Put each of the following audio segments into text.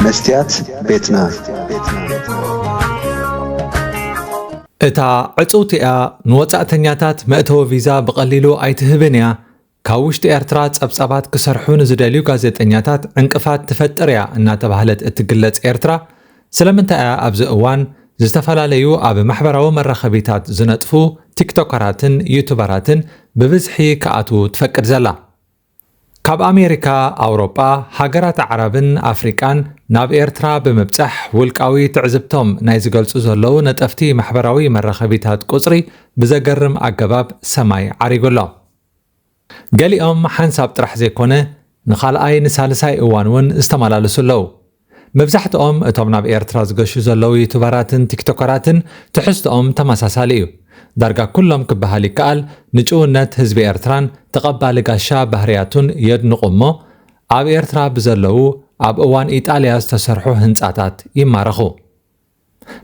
መስትያት ቤትና እታ ዕጽውቲ እያ ንወጻእተኛታት መእተዊ ቪዛ ብቐሊሉ ኣይትህብን እያ፣ ካብ ውሽጢ ኤርትራ ጸብጻባት ክሰርሑ ንዝደልዩ ጋዜጠኛታት ዕንቅፋት ትፈጥር እያ እናተባህለት እትግለጽ ኤርትራ ስለምንታይ እያ ኣብዚ እዋን ዝተፈላለዩ ኣብ ማሕበራዊ መራኸቢታት ዝነጥፉ ቲክቶከራትን ዩቱበራትን ብብዝሒ ክኣትዉ ትፈቅድ ዘላ? ካብ ኣሜሪካ፣ ኣውሮጳ፣ ሃገራት ኣዕራብን ኣፍሪቃን ናብ ኤርትራ ብምብጻሕ ውልቃዊ ትዕዝብቶም ናይ ዝገልጹ ዘለዉ ነጠፍቲ ማሕበራዊ መራኸቢታት ቁጽሪ ብዘገርም ኣገባብ ሰማይ ዓሪጉ ኣሎ። ገሊኦም ሓንሳብ ጥራሕ ዘይኮነ ንኻልኣይ ንሳልሳይ እዋን'ውን ዝተመላለሱ ኣለዉ። መብዛሕትኦም እቶም ናብ ኤርትራ ዝገሹ ዘለዉ ዩቱበራትን ቲክቶከራትን ትሕዝትኦም ተመሳሳሊ እዩ። ዳርጋ ኩሎም ክበሃል ይከኣል ንጭውነት ህዝቢ ኤርትራን ተቐባሊ ጋሻ ባህርያቱን የድንቑ እሞ ኣብ ኤርትራ ብዘለዉ ኣብ እዋን ኢጣልያ ዝተሰርሑ ህንጻታት ይማረኹ።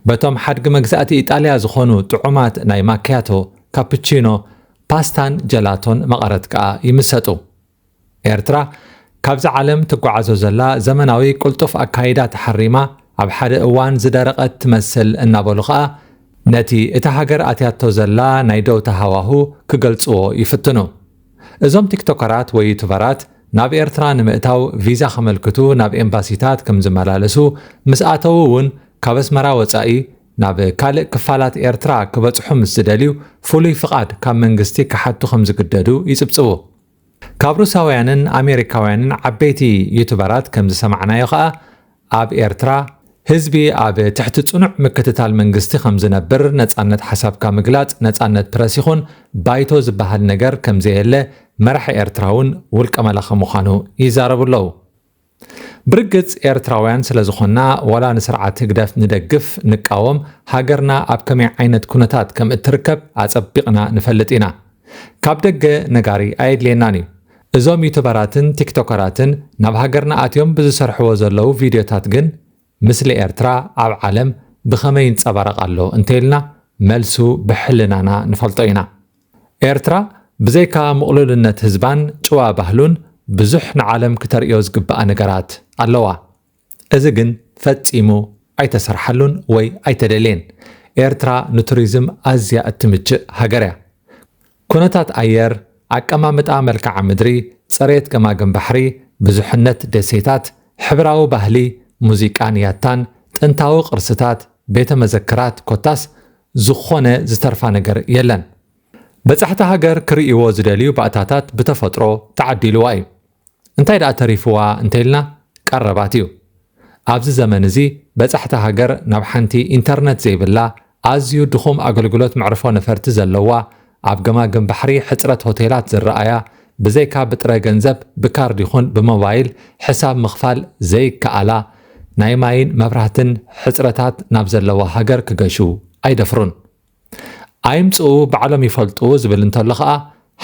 በቶም ሓድጊ መግዛእቲ ኢጣልያ ዝኾኑ ጥዑማት ናይ ማክያቶ፣ ካፕቺኖ፣ ፓስታን ጀላቶን መቐረት ከኣ ይምሰጡ። ኤርትራ ካብዛ ዓለም ትጓዓዞ ዘላ ዘመናዊ ቅልጡፍ ኣካይዳ ተሓሪማ ኣብ ሓደ እዋን ዝደረቐት ትመስል እናበሉ ከኣ ነቲ እታ ሃገር ኣትያቶ ዘላ ናይ ደውታ ሃዋሁ ክገልጽዎ ይፍትኑ። እዞም ቲክቶከራት ወይ ዩቱበራት ናብ ኤርትራ ንምእታው ቪዛ ከመልክቱ ናብ ኤምባሲታት ከምዝመላለሱ ምስ ኣተዉ ውን ካብ ኣስመራ ወጻኢ ናብ ካልእ ክፋላት ኤርትራ ክበጽሑ ምስ ዝደልዩ ፍሉይ ፍቓድ ካብ መንግስቲ ክሓቱ ከምዝግደዱ ይጽብጽቡ። ካብ ሩሳውያንን ኣሜሪካውያንን ዓበይቲ ዩቱበራት ከምዝሰማዕናዮ ከኣ ኣብ ኤርትራ፣ ህዝቢ ኣብ ትሕቲ ጽኑዕ ምክትታል መንግስቲ ከም ዝነብር፣ ነጻነት ሓሳብካ ምግላጽ፣ ነጻነት ፕረስ ይኹን ባይቶ ዝበሃል ነገር ከም ዘየለ መራሒ ኤርትራ'ውን ውልቀ መላኺ ምዃኑ ይዛረቡ ኣለዉ። ብርግጽ ኤርትራውያን ስለ ዝኾንና ዋላ ንስርዓት ህግደፍ ንደግፍ ንቃወም ሃገርና ኣብ ከመይ ዓይነት ኩነታት ከም እትርከብ ኣጸቢቕና ንፈልጥ ኢና። ካብ ደገ ነጋሪ ኣየድልየናን እዩ። እዞም ዩቱበራትን ቲክቶከራትን ናብ ሃገርና ኣትዮም ብዝሰርሕዎ ዘለዉ ቪድዮታት ግን ምስሊ ኤርትራ ኣብ ዓለም ብኸመይ ይንጸባረቕ ኣሎ እንተኢልና መልሱ ብሕልናና ንፈልጦ ኢና። ኤርትራ ብዘይካ ምቕሉልነት ህዝባን ጭዋ ባህሉን ብዙሕ ንዓለም ክተርእዮ ዝግብኣ ነገራት ኣለዋ። እዚ ግን ፈጺሙ ኣይተሰርሓሉን ወይ ኣይተደልየን። ኤርትራ ንቱሪዝም ኣዝያ እትምችእ ሃገር'ያ። ኩነታት ኣየር፣ ኣቀማምጣ መልክዓ ምድሪ፣ ጽሬት ገማግም ባሕሪ፣ ብዙሕነት ደሴታት፣ ሕብራዊ ባህሊ፣ ሙዚቃን ያታን፣ ጥንታዊ ቅርስታት፣ ቤተ መዘክራት ኮታስ ዝኾነ ዝተርፋ ነገር የለን። በጻሕቲ ሃገር ክርእይዎ ዝደልዩ ባእታታት ብተፈጥሮ ተዓዲልዋ'ዩ። እንታይ ደኣ ተሪፍዋ እንተኢልና ቀረባት እዩ። ኣብዚ ዘመን እዚ በጻሕቲ ሃገር ናብ ሓንቲ ኢንተርነት ዘይብላ፣ ኣዝዩ ድኹም ኣገልግሎት መዕርፎ ነፈርቲ ዘለዋ፣ ኣብ ገማግም ባሕሪ ሕጽረት ሆቴላት ዝረኣያ፣ ብዘይካ ብጥረ ገንዘብ ብካርድ ይኹን ብሞባይል ሕሳብ ምኽፋል ዘይከኣላ፣ ናይ ማይን መብራህትን ሕጽረታት ናብ ዘለዋ ሃገር ክገሹ ኣይደፍሩን። ኣይምጽኡ ባዕሎም ይፈልጡ ዝብል እንተሎ ከኣ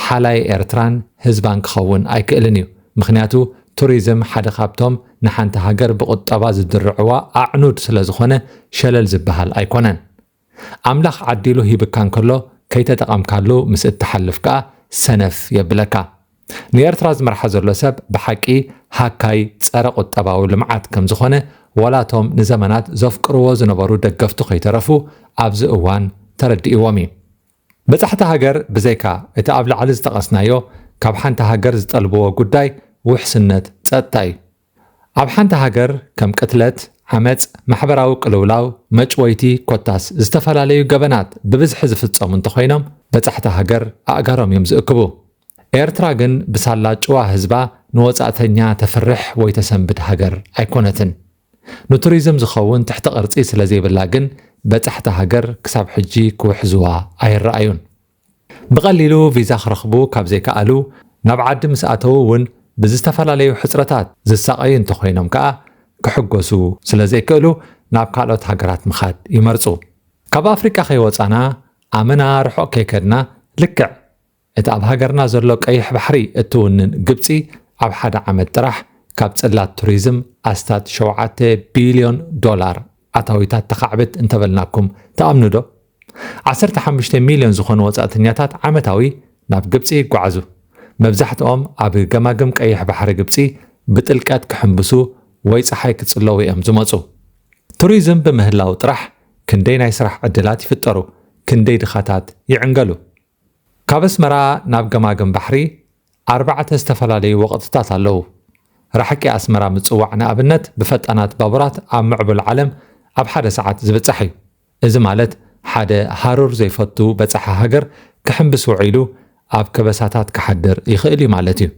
ሓላይ ኤርትራን ህዝባን ክኸውን ኣይክእልን እዩ። ምኽንያቱ ቱሪዝም ሓደ ካብቶም ንሓንቲ ሃገር ብቁጠባ ዝድርዕዋ ኣዕኑድ ስለዝኾነ ሸለል ዝበሃል ኣይኮነን። ኣምላኽ ዓዲሉ ሂብካ እንከሎ ከይተጠቐምካሉ ምስ እትሓልፍ ከኣ ሰነፍ የብለካ። ንኤርትራ ዝመርሓ ዘሎ ሰብ ብሓቂ ሃካይ ጸረ ቁጠባዊ ልምዓት ከም ዝኾነ ወላ እቶም ንዘመናት ዘፍቅርዎ ዝነበሩ ደገፍቱ ከይተረፉ ኣብዚ እዋን ተረዲእዎም እዩ። በጻሕቲ ሃገር ብዘይካ እቲ ኣብ ላዕሊ ዝጠቐስናዮ ካብ ሓንቲ ሃገር ዝጠልብዎ ጉዳይ ውሕስነት ጸጥታ እዩ። ኣብ ሓንቲ ሃገር ከም ቅትለት፣ ዓመጽ፣ ማሕበራዊ ቅልውላው፣ መጭወይቲ ኮታስ ዝተፈላለዩ ገበናት ብብዝሒ ዝፍጸሙ እንተኾይኖም በጻሕቲ ሃገር ኣእጋሮም እዮም ዝእክቡ። ኤርትራ ግን ብሳላ ጭዋ ህዝባ ንወጻእተኛ ተፍርሕ ወይ ተሰንብድ ሃገር ኣይኮነትን። ንቱሪዝም ዝኸውን ትሕተ ቅርጺ ስለዘይብላ ግን በጻሕቲ ሃገር ክሳብ ሕጂ ክውሕዝዋ ኣይረኣዩን። ብቐሊሉ ቪዛ ክረኽቡ ካብ ዘይከኣሉ፣ ናብ ዓዲ ምስ ኣተዉ እውን ብዝተፈላለዩ ሕጽረታት ዝሳቐዩ እንተኾይኖም ከኣ ክሕጎሱ ስለ ዘይክእሉ ናብ ካልኦት ሃገራት ምኻድ ይመርጹ። ካብ ኣፍሪቃ ከይወጻና ኣመና ርሑቕ ከይከድና ልክዕ እቲ ኣብ ሃገርና ዘሎ ቀይሕ ባሕሪ እትውንን ግብጺ ኣብ ሓደ ዓመት ጥራሕ ካብ ጽላት ቱሪዝም ኣስታት ሸውዓተ ቢልዮን ዶላር ኣታዊታት ተኻዕብት እንተበልናኩም ትኣምኑዶ? ዓሰርተ ሓሙሽተ ሚልዮን ዝኾኑ ወጻእተኛታት ዓመታዊ ናብ ግብጺ ይጓዓዙ። መብዛሕትኦም ኣብ ገማግም ቀይሕ ባሕሪ ግብጺ ብጥልቀት ክሕንብሱ ወይ ጸሓይ ክጽለዉ እዮም ዝመጹ። ቱሪዝም ብምህላው ጥራሕ ክንደይ ናይ ስራሕ ዕድላት ይፍጠሩ፣ ክንደይ ድኻታት ይዕንገሉ። ካብ ኣስመራ ናብ ገማግም ባሕሪ ኣርባዕተ ዝተፈላለዩ ወቕጥታት ኣለዉ። ራሕቂ ኣስመራ ምጽዋዕ ንኣብነት ብፈጣናት ባቡራት ኣብ ምዕቡል ዓለም ኣብ ሓደ ሰዓት ዝብጻሕ እዩ። እዚ ማለት ሓደ ሃሩር ዘይፈቱ በጻሒ ሃገር ክሕምብስ ውዒሉ ኣብ ከበሳታት ክሓድር ይኽእል እዩ ማለት እዩ።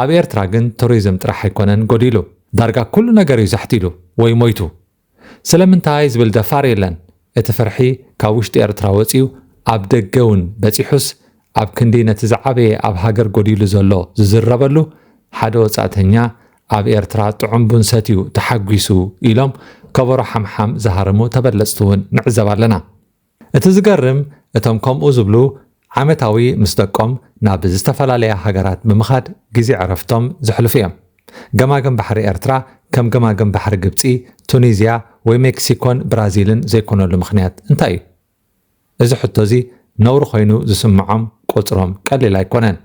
ኣብ ኤርትራ ግን ቱሪዝም ጥራሕ ኣይኮነን ጎዲሉ። ዳርጋ ኩሉ ነገር እዩ ዛሕቲሉ ወይ ሞይቱ። ስለምንታይ ዝብል ደፋር የለን። እቲ ፍርሒ ካብ ውሽጢ ኤርትራ ወጺኡ ኣብ ደገ እውን በጺሑስ ኣብ ክንዲ ነቲ ዝዓበየ ኣብ ሃገር ጎዲሉ ዘሎ ዝዝረበሉ ሓደ ወጻእተኛ ኣብ ኤርትራ ጥዑም ቡን ሰትዩ ተሓጒሱ ኢሎም ከበሮ ሓምሓም ዝሃርሙ ተበለጽቲ እውን ንዕዘብ ኣለና። እቲ ዝገርም እቶም ከምኡ ዝብሉ ዓመታዊ ምስ ደቆም ናብ ዝተፈላለያ ሃገራት ብምኻድ ግዜ ዕረፍቶም ዘሕልፉ እዮም። ገማግም ባሕሪ ኤርትራ ከም ገማግም ባሕሪ ግብጺ፣ ቱኒዝያ ወይ ሜክሲኮን ብራዚልን ዘይኮነሉ ምኽንያት እንታይ እዩ? እዚ ሕቶ እዚ ነውሪ ኮይኑ ዝስምዖም ቁጽሮም ቀሊል ኣይኮነን።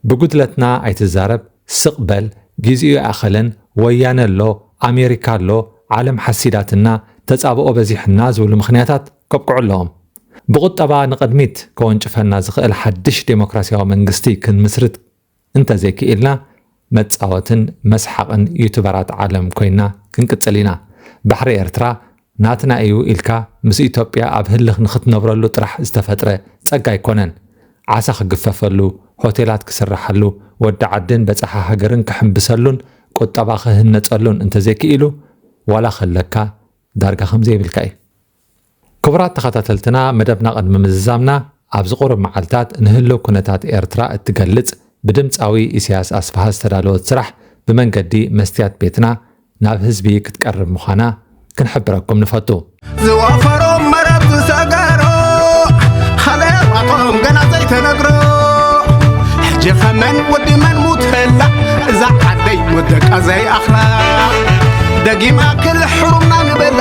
ብጉድለትና ኣይትዛረብ ስቅ በል ጊዚኡ ኣይኣኸለን ወያነ ኣሎ ኣሜሪካ ኣሎ ዓለም ሓሲዳትና ተጻብኦ በዚሕና ዝብሉ ምኽንያታት ከብቅዑ ኣለዎም። ብቁጠባ ንቅድሚት ከወንጭፈና ዝኽእል ሓድሽ ደሞክራሲያዊ መንግስቲ ክንምስርት እንተዘይክኢልና መጻወትን መስሓቕን ዩቱበራት ዓለም ኮይና ክንቅጽል ኢና። ባሕሪ ኤርትራ ናትና እዩ ኢልካ ምስ ኢትዮጵያ ኣብ ህልኽ ንኽትነብረሉ ጥራሕ ዝተፈጥረ ጸጋ ኣይኮነን። ዓሳ ክግፈፈሉ፣ ሆቴላት ክስርሓሉ፣ ወዲ ዓድን በጻሒ ሃገርን ክሕምብሰሉን ቁጠባ ክህነጸሉን እንተዘይክኢሉ ዋላ ከለካ ዳርጋ ከምዘይብልካ እዩ። ክቡራት ተኸታተልትና መደብና ቅድሚ ምዝዛምና ኣብዚ ቁሩብ መዓልታት ንህልው ኩነታት ኤርትራ እትገልጽ ብድምጻዊ ኢሰያስ ኣስፍሃ ዝተዳለወት ስራሕ ብመንገዲ መስትያት ቤትና ናብ ህዝቢ ክትቀርብ ምዃና ክንሕብረኩም ንፈቱ። ዝወፈሮም መረብ ዝሰገሮ ሃለዋቶም ገና ዘይተነግሮ ሕጂ ከመን ወዲ መን ሙት ህላ እዛ ዓደይ ወደቃ ዘይኣኽላ ደጊማ ክል ሕሩምና ንበላ